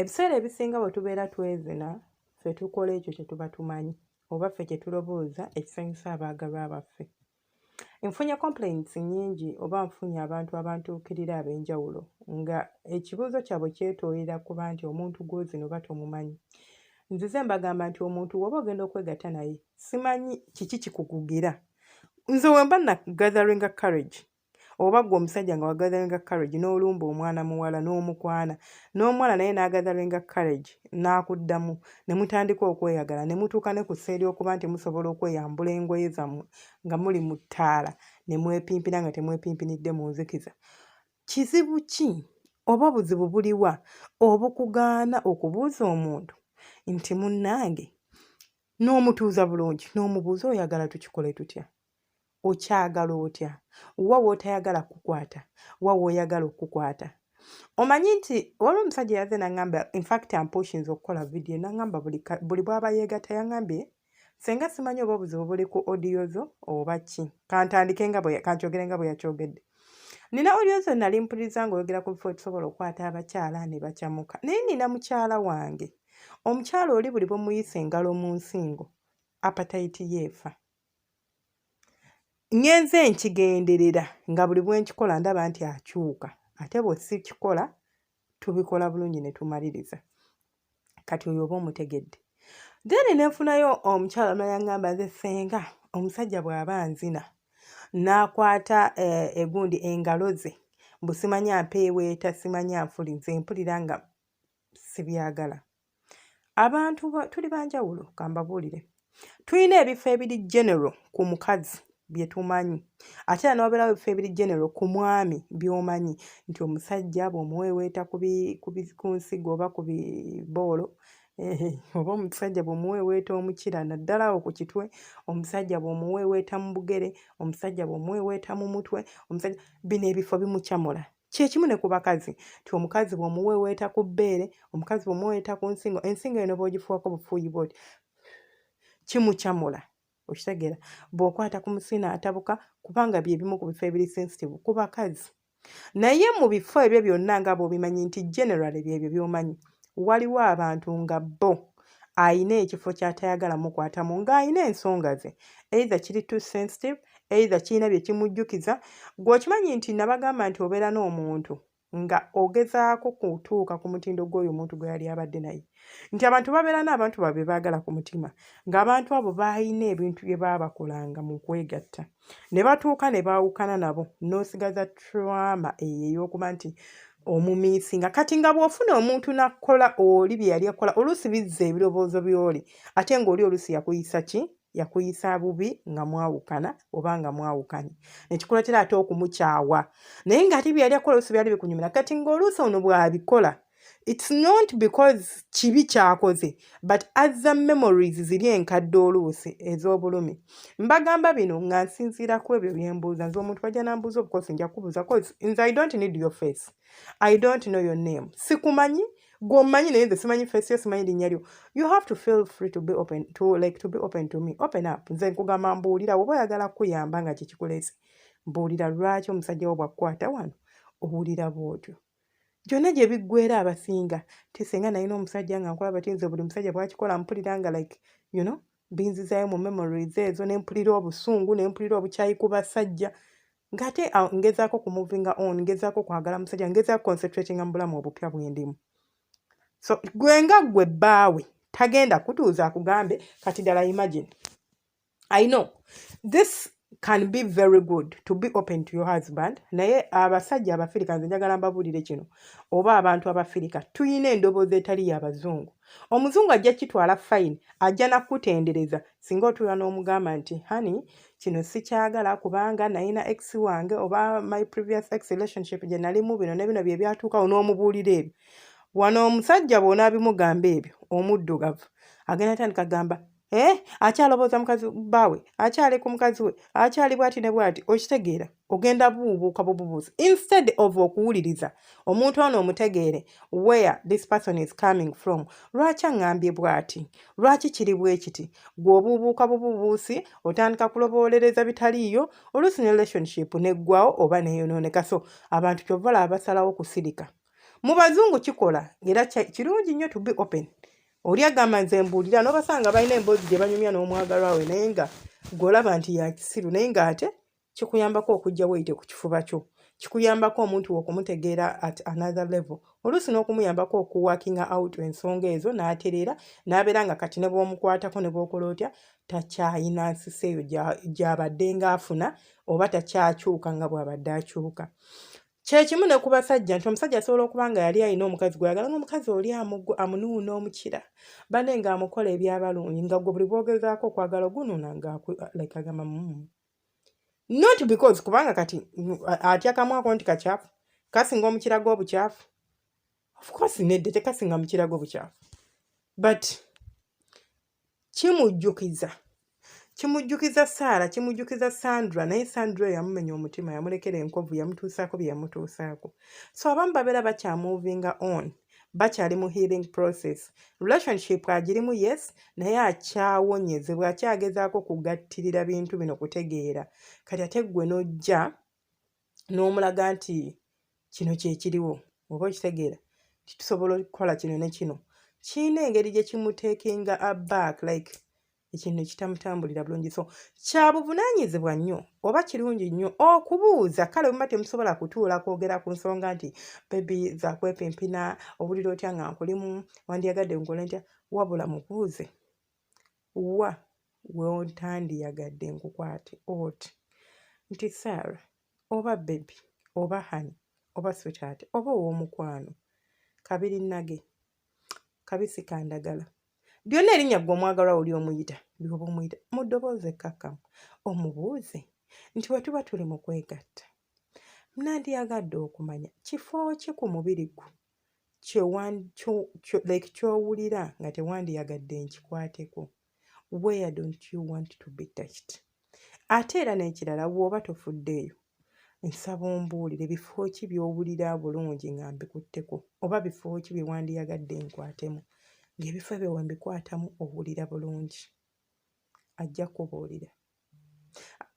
ebiseera ebisinga bwe tubeera twezina ffe tukola ekyo kye tuba tumanyi oba ffe kye tulobooza ekisanyusa abaagalwa baffe nfunye complaints nyingi oba nfunye abantu abantuukirira ab'enjawulo nga ekibuuzo kyabwe kyetoolera kuba nti omuntu gwozino oba tomumanyi nzize mbagamba nti omuntu woba ogenda okwegatta naye simanyi kiki kikukugira nze wemba na gatheringa courage oba gwe omusajja nga wagatheringa courage n'olumba omwana muwala n'omukwana n'omuwala naye n'agatheringa courage n'akuddamu ne mutandika okweyagala ne mutuuka ne ku seeri okuba nti musobola okweyambula engoye zammwe nga muli mu ttaala ne mwepimpira nga temwepimpinidde mu nzikiza kizibu ki oba obuzibu buliwa obukugaana okubuuza omuntu nti munnange n'omutuuza bulungi n'omubuuza oyagala tukikole tutya okyagala otya wa wootayagala kukukwata wa wooyagala okukukwata omanyi nti waliwo omusajja yaze naŋamba infact ampushinza okukola vidiyo naŋamba buli bwaba yeegata yaŋambye senga simanyi oba obuzibu buli ku odiyo zo oba ki kantandike nga kankyogere nga bwe yakyogedde nina odiyo zo nali mpuliriza ngaoyogera ku bifo etusobola okukwata abakyala ne bakyamuka naye nina mukyala wange omukyala oli buli bwemuyisa engalo mu nsingo apatayiti yeefa ŋŋenze nkigenderera nga buli bwe nkikola ndaba nti akyuka ate bwe sikikola tubikola bulungi ne tumaliriza kati oyo oba omutegedde then ne nfunayo omukyala nayaŋŋamba nze senga omusajja bw'aba nzina n'akwata eh, egundi engalo ze mbu simanya mpeeweeta simanya nfuli nze mpulira nga sibyagala abantu tuli banjawulo kambabuulire tulina ebifo ebiri general ku mukazi bye tumanyi ate era n'obeerawo ebifo ebiri genero ku mwami by'omanyi nti omusajja bw'omuweeweeta ku nsigo oba ku biboolo oba omusajja bw'omuweeweeta omukira naddala awo ku kitwe omusajja bw'omuweeweeta mu bugere omusajja bw'omuweeweeta mu mutwe omusajja bino ebifo bimucamula kyekimu ne ku bakazi nti omukazi bwomuweweeta ku bbeere omukazi bwomuweweeta ku nsingo ensingo eno bwogifuwako bufuuyi bwoti kimucamula okitegeera bwokwata ku musiina atabuka kubanga byebimu ku bifo ebiri sensitive ku bakazi naye mu bifo ebyo byonna nga bwobimanyi nti generally byebyo byomanyi byo waliwo abantu nga bo alina ekifo kyatayagala mukwatamu ng'alina ensonga ze either kiri too sensitive either kirina bye kimujjukiza gweokimanyi nti nabagamba nti obeera n'omuntu nga ogezaako kutuuka ku mutindo gw'oyo omuntu gwe yali abadde naye nti abantu babeera n'abantu babe baagala ku mutima ng'abantu abo baalina ebintu bye baabakolanga mu kwegatta ne batuuka ne baawukana nabo n'osigaza trama eyo ey'okuba nti omumiisinga kati nga bw'ofuna omuntu n'akukola oli bye yali akola oluusi bizza ebirowoozo by'oli ate ng'oli oluusi yakuyisa ki yakuyisa bubi nga mwawukana oba nga mwawukanye nekikulatera ate okumukyawa naye ng'ate bye yali akola oluusi byali bikunyumira kati ng'oluusi ono bw'abikola it's not because kibi kyakoze but azza memories ziri enkadde oluusi ez'obulumi mbagamba bino nga nsinziira ku ebyo bye mbuuza nze omuntu bajja nambuuza obukosi nja kubuuza cause nze i don't need your face i don't know your name sikumanyi gw'omanyi naye nze simanyi face yo simanyi linnya lyo you have to feel free to be open to like to be open to me open up nze nkugamba mbuulira woba oyagala kukuyamba nga kyekikuleese mbuulira lwaki omusajja wo bwakukwata wano owulira bwotyo gyonna gye biggwera abasinga nti singa nalina omusajja nga nkulaba ti nze buli musajja bwakikola mpulira nga like you know binzizaayo mu memories ezo ne mpulira obusungu ne mpulira obukyayi ku basajja ng'ate ah, ngezaako ku moving on ngezaako kwagala musajja ngezaako concentrating mu bulamu obupya bwendimu so gwe nga gwe bbaawe tagenda kutuuza akugambe kati ddala imagine i know this can be very good to be open to your husband naye abasajja abafirika nze njagala mbabuulire kino oba abantu abafirika tulina endoboozi etali yabazungu omuzungu ajja kitwala fine ajja nakutendereza singa otuula n'omugamba nti hani kino sikyagala kubanga nayina ex wange oba my previous ex relationship gye nalimu bino ne bino bye byatuukawo n'omubuulira ebyo wano omusajja bw'onaabimugamba ebyo omuddugavu agenda tandika gamba Eh, akyalobooza mukazi baawe akyali ku mukazi we akyali bwati ne bwati okitegeera ogenda buubuuka bububuuzi instead of okuwuliriza omuntu ono omutegeere where this person is coming from lwaki aŋŋambye bwati lwaki kiri bwe kiti gwe obuubuuka bububuusi otandika kuloboolereza bitaliiyo oluusi ne relationship neggwawo oba neeyonooneka so abantu kyova laba basalawo kusirika mu bazungu kikola era kirungi nnyo to be open oli agamba nze mbuulira n'obasanga balina emboozi gye banyumya n'omwagalwa we naye nga gw'olaba nti yakisiru naye ng'ate kikuyambako okujja weyite ku kifuba kyo kikuyambako omuntu okumutegeera at another level oluusi n'okumuyambako okuwakinga out ensonga ezo n'atereera n'abeera nga kati ne bw'omukwatako ne bw'okola otya takyayina nsisi eyo gy'abadde ng'afuna oba takyakyuka nga bw'abadde akyuka kyekimu ne ku basajja nti omusajja asobola okuba nga yali alina omukazi gweyagala ngaomukazi oli amugwa amunuuna omukira bane nga amukola ebyabalungi nga gwe buli bwogezaako okwagala ogunuuna nga like agamba mumu mm. not because kubanga kati atya kamwako nti kakyafu kasinga omukira gwobukyafu ofcourse nedde tekasinga mukira gwobukyafu but kimujjukiza kimujjukiza saara kimujjukiza sandra naye sandra oyo yamumenya omutima yamulekera enkovu yamutuusaako bye yamutuusaako so abamu babeera bakyamuvinga on bakyali mu healing process relationship agirimu yes naye akyawonyezebwa akyagezaako kugattirira bintu bino kutegeera kati ate ggwe n'ojja n'omulaga nti kino kyekiriwo oba okitegeera titusobola okukola kino ne kino kirina engeri gye kimutekinga aback like ekintu kitamutambulira bulungi so kyabuvunaanyizibwa nnyo oba kirungi nnyo okubuuza kale buma temusobola kutuula kwogera ku nsonga nti bebi zakwepimpina owulira otya nga nkulimu wandyagadde nkole ntya wabula mubuuze wa wontandiyagadde nkukwate oti nti sarah oba bebi oba hani oba switaati oba ow'omukwano kabiri nage kabisi kandagala byonna erinnya gwe omwagalwa oli omuyita byoba omuyita mu ddoboozi ekkakkamu omubuuze nti bwe tuba tuli mu kwegatta nandiyagadde okumanya kifo ki ku mubiri gwo like kyowulira nga tewandiyagadde nkikwateko where don't you want to be touched ate era n'ekirala wooba tofuddeeyo nsaba ombuulire bifo ki byowulira bulungi nga mbikutteko oba bifo ki bye wandiyagadde nkwatemu ng'ebifo ebyo wembikwatamu owulira bulungi ajja kubuulira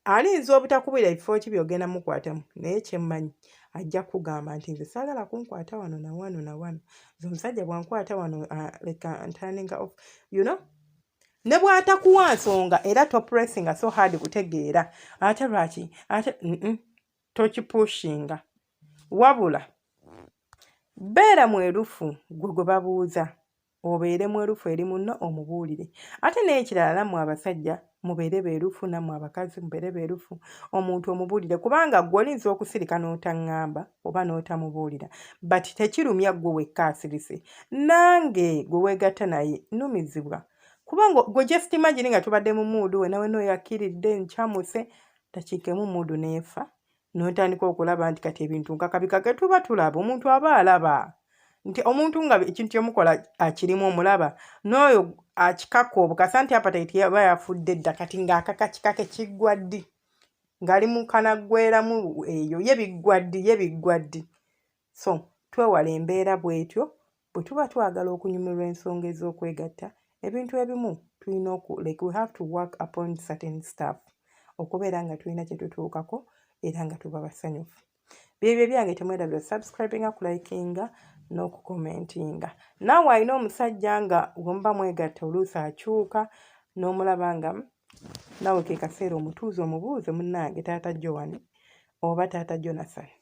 alinza obutakubira ebifo ki byogenda mukwatamu naye kyemmanyi ajja kugamba nti nze saagala kunkwata wano na wano na wano nze omusajja bwankwata wano leka ntaninga of you know ne bwatakuwa nsonga era topressinga so hard kutegeera ate lwaki ate tokipushinga wabula beera mwerufu gwe gwe babuuza obeere mwerufu eri munno omubuulire ate n'ekirala nammwe abasajja mubeere beerufu nammwe abakazi mubeere beerufu omuntu omubuulire kubanga gwe olinza okusirika n'otaŋŋamba oba n'otamubuulira but tekirumya gwe wekka asirise nange gwe weegatta naye numizibwa kubanga gwe just imagine nga tubadde mu muudu we nawe nooyo akkiridde nkyamuse dakiika emu muudu n'efa notandika okulaba nti kati ebintu nkakabikage tuba tulaba omuntu aba alaba nti omuntu nga ekintu kyemukola akirimu omulaba n'oyo akikaka obukasa nti apatayiti yaba yafudde dda kati ng'akaka kikake kiggwa ddi ng'ali mu kanaggweramu eyo ye biggwa ddi ye biggwa ddi So twewala embeera bw'etyo bwe tuba twagala okunyumirwa ensonga ez'okwegatta ebintu ebimu tulina oku like we have to work upon certain stuff okubeera nga tulina kye tutuukako era nga tuba basanyufu byebyo ebyange temwerabira subscribinga kulikinga n'okukomentinga naawe alina omusajja nga wemuba mwegatta oluusi akyuka n'omulaba nga naawe ke kaseera omutuuza omubuuze munnange taata jowani oba taata jonathan